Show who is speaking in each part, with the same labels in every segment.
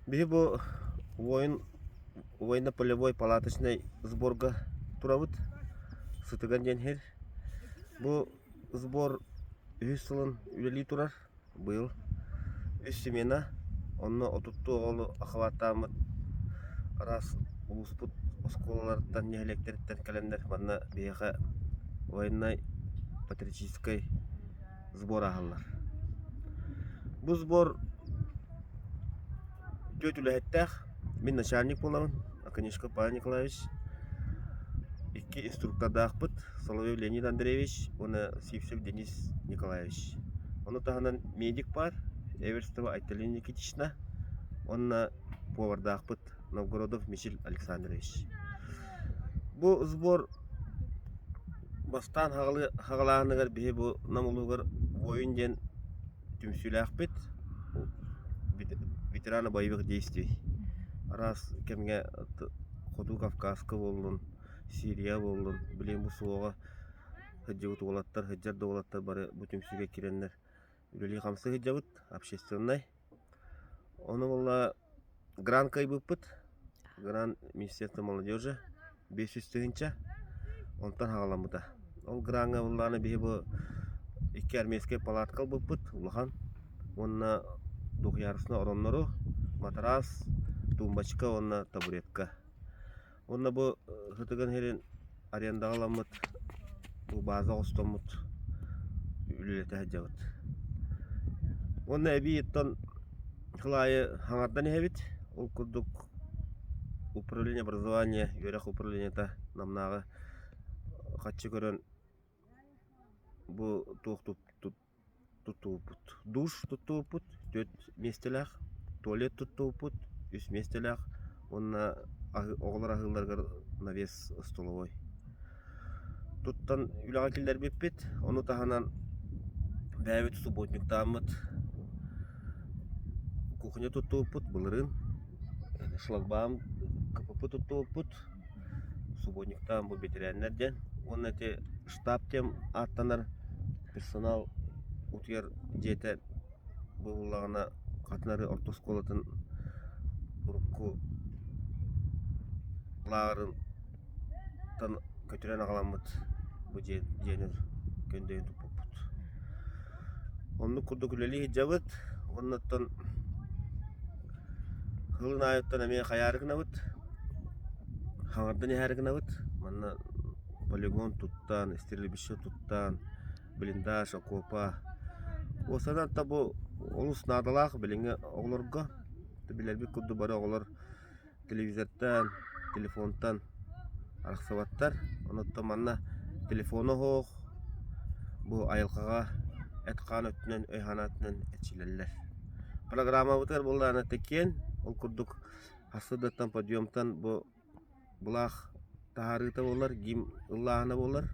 Speaker 1: Биһи бу военно-полевой палаточнай сборга турабыт. Сытыган диэн иһэр. Бу сбор үһүс сылын үлэлии турар. Быйыл үс смена, онно отуттуу оҕолу акылааттааммыт араас улууспут оскуолаларыттан, нэһилиэктэриттэн кэлэннэр манна биһиэхэ военнай, патриотическай сбор аһаллар. Бу сбор үтүө үлэһиттээх, мин начальник буолабын Аконешко Павел Николаевич, икки инструктордаахпыт Соловьев Леонид Андреевич уонна Сивцев Денис Николаевич. Ону таһынан медик баар Эверстова Айталина Никитична уонна повардаахпыт Новгородов Мичил Александрович. Бу сбор бастаан хагалааһыныгар биһи бу Нам улууһугар Воин диэн түмсүүлээхпит ветерана боевых действий араас кэмҥэ хоту кавказка буоллун сирия буоллун билим бу суоҕа сылдьыбыт уолаттар сылдьар да уолаттар бары бу түмсүүгэ кирэннэр үлэлии-хамсыы сылдьабыт, общественнай. Ону буолла грант кыайбыппыт. Грант Министерство молодежи биэс сүүс тыһыынча. Онтон хаҕаламмыта. Ол граҥҥа буоллаҕына биһи бу икки армейскай палатка ылбыппыт улахан. Уонна двухъярусный ороннору, матараас, тумбочка уонна табуретка. Уонна бу сытыган сирин арендаҕаламмыт бу бааза оҕостоммут үлэлэтэ сылдьабыт. Уонна эбиититтэн сыл аайы хаҥардан иһэбит. Ол курдук управление образования, үөрэх управлениета Намнааҕы хаччы көрөн бу туох туп- туп тутуубут, душ тутуубут түөрт миэстэлээх, туалет тутуубут үс миэстэлээх уонна оҕолор аһыылларыгар навес остолобуой. Туттан үлэҕэ киллэрбиппит, ону таһынан бэйэбит субботниктааммыт кухня тутуупут, былырыын шлагбаум КПП тутуупут, субботниктаан бу бэтэрээннэр диэн уонна ити штаб диэн ааттанар персонал утуйар дьиэтэ быһыллаҕына хатын арыы орто оскуолатын урукку лааҕырыттан көтүрэн аҕаламмыт бу дьиэ дьиэни көндөйүн туппуппут оннук курдук үлэлии сылдьабыт уонна оттон кылын аайыттан эмиэ хайаары гынабыт хаҥардан иһээри гынабыт манна полигон туттан, истирилибище туттан, блиндаж, окуопа. Уостанан та бу олус наадалаах билиҥҥи оҕолорго. Билэрбит курдук бары оҕолор телевизортан, телефонтан арахсыбаттар. Онуттан манна телефону оһох, бу айылҕаҕа эт-хаан өттүнэн, өй-санаатынан эрчилэллэр. Программабытыгар буоллаҕына тикиэн, ол курдук хас сырдаттан, подъемтан бу былаах таһаарыыта буоллар гимн ыллааһына буоллар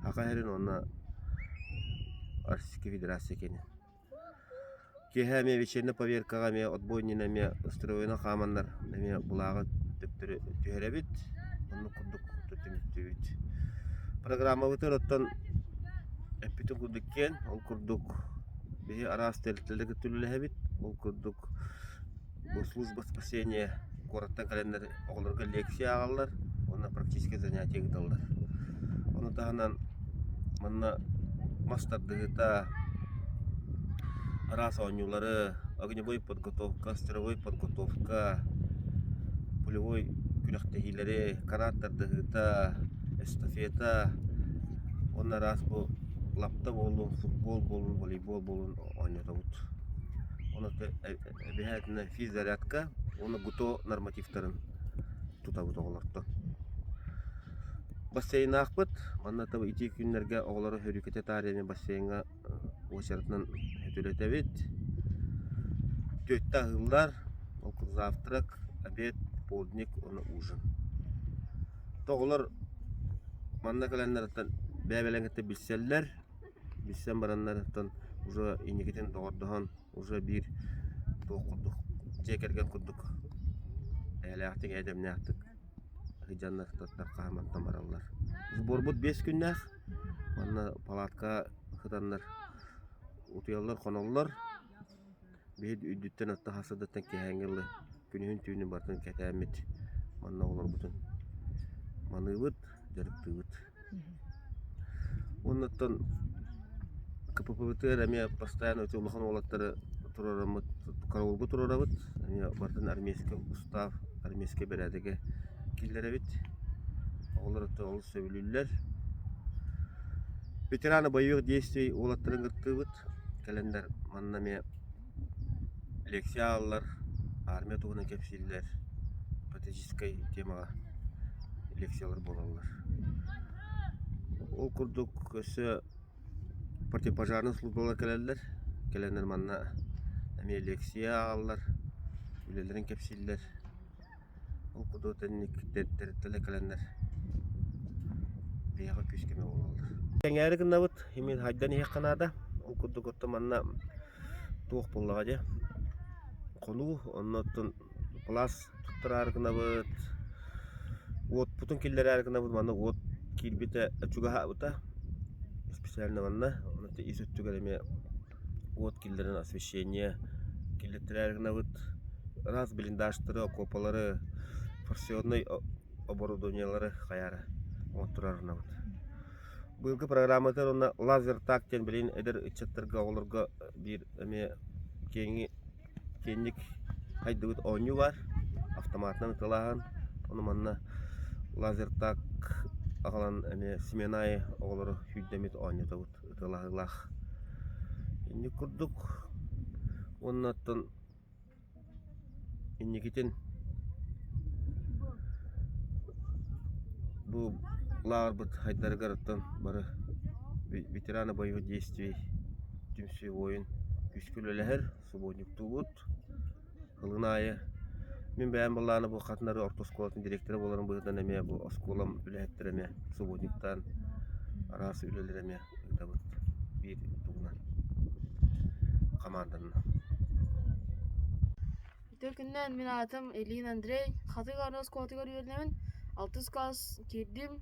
Speaker 1: аха иһэрин уонна российская федерация киэнин киэһэ эмиэ вечернэй поверкаҕа эмиэ отбойнина эмиэ устроена хааманнар эмиэ былааҕы төттөрү түһэрэбит оннук курдук түмүктүүбүт программабытыгар оттон эппитим курдук киэн ол курдук биһи араас тэрилтэлэргэ үлэлэһэбит ол курдук Бу служба спасения куораттан кэлэннэр оҕолорго лекция ааҕаллар уонна практическай занятие ыыталлар. Ону таһынан манна мас тардыһыта, араас оонньуулары, огневой подготовка, стреловой подготовка, пулевой күрэхтэһиилэри, канат тардыһыта, эстафета уонна араас бу лапта буоллун, футбол буоллун, волейбол буоллун оонньотобут. Ону Эбиһээтинэ физзарядка уонна ГУТО нормативтарын тутабыт оҕолортон. Бассейнаахпыт. Манна таба ити күннэргэ оҕолору хөрүүкэтэ таарыйаны бассейҥҥа уочаратынан үлэтэбит. Түөртэ аһыыллар, ол завтрак, обед, полдник уонна ужин. Оҕолор манна кэлэннэриттэн бэйэ-бэлэҥитэ билсэллэр. Билсэн бараннарыттан уже инникитин доҕордоһон уже биир туох курдук дьиэ кэргэн курдук эйэлээхтик эйэдэмнээхтик сыдьаннар туттар хааматтан бараллар сборбут биэс күннээх уонна палатка сытаннар утуйаллар хоноллор биһи үрдүттэн атта хас сырдаттан киэһээҥҥи Күнүһүн түүнү барытын кэтээммит, манна оҕолорбутун маныыбыт, дьарыктыыбыт. Оннуттан КППБТР эмиэ бастаан эти улахан уолаттары туруораммыт, караулбут туруорабыт. Эмиэ барытын армейскай устав, армейскай бэрээдэгэ киллэрэбит. Оҕолор өттө олус сөбүлүүллэр. Ветераны бойовых действий уолаттарын кыттыыбыт. Кэлэндэр манна эмиэ Лекция ааллар, армия туһунан кэпсииллэр, патриотическай темаҕа лекциялар буолаллар. Ол курдук өссө противопожарнай службалар кэлэллэр. Кэлэннэр манна эмиэ лекция ааллар, үлэлэрин кэпсииллэр. Ол куту тэрилтэлэр кэлэннэр биһиэхэ күүс-көмө буолаллар. Сэҥээри гыннабыт, имин хайдан иһиэххэ наада. Ол курдук оттон манна туох буоллаҕа дьэ. Хонуу, онно оттон пласт туттараары гынабыт. Уотпутун киллэрэри гынабыт. Манна уот киирбитэ чугаһаабыта. Исписээлинэ манна. Ону ис өттүгэр эмиэ уот киллэрэн освещение киллэртилэр гынабыт ыраас блиндажтары окуопалары форсионнай оборудованиелары хайаары оҥотторор гынабыт быйылгы программатыгар уонна лазер так диэн билигин эдэр ыччаттарга оҕолорго биир эмиэ киэҥи киэҥник хайдыбыт оонньуу баар автоматынан ытылааһын ону манна лазер так аҕалан эмиэ семен аайы оҕолору сүүрдэммит оонньотобут ытылаһыылаах инник курдук уонна оттон инникитин бу лааҕырбыт хайдарыгар оттон бары ветераны боевых действий түмсүү уойун күүскэ үлэлэһэр субуонньуктуубут Ылын аайы мин бэйэм былаана буолхатынары орто оскуолатын директора буоларым быһыытынан эмиэ бу оскуолам үлэһиттэрэ эмиэ субботниктаан араас үлэлэри эмиэ ыытабыт биир тугунан хамаанданан.
Speaker 2: Ити күннэн мин аатым Ильин Андрей, Хатык Арыы оскуолатыгар үөрэнэбин, алтыс кылаас киирдим,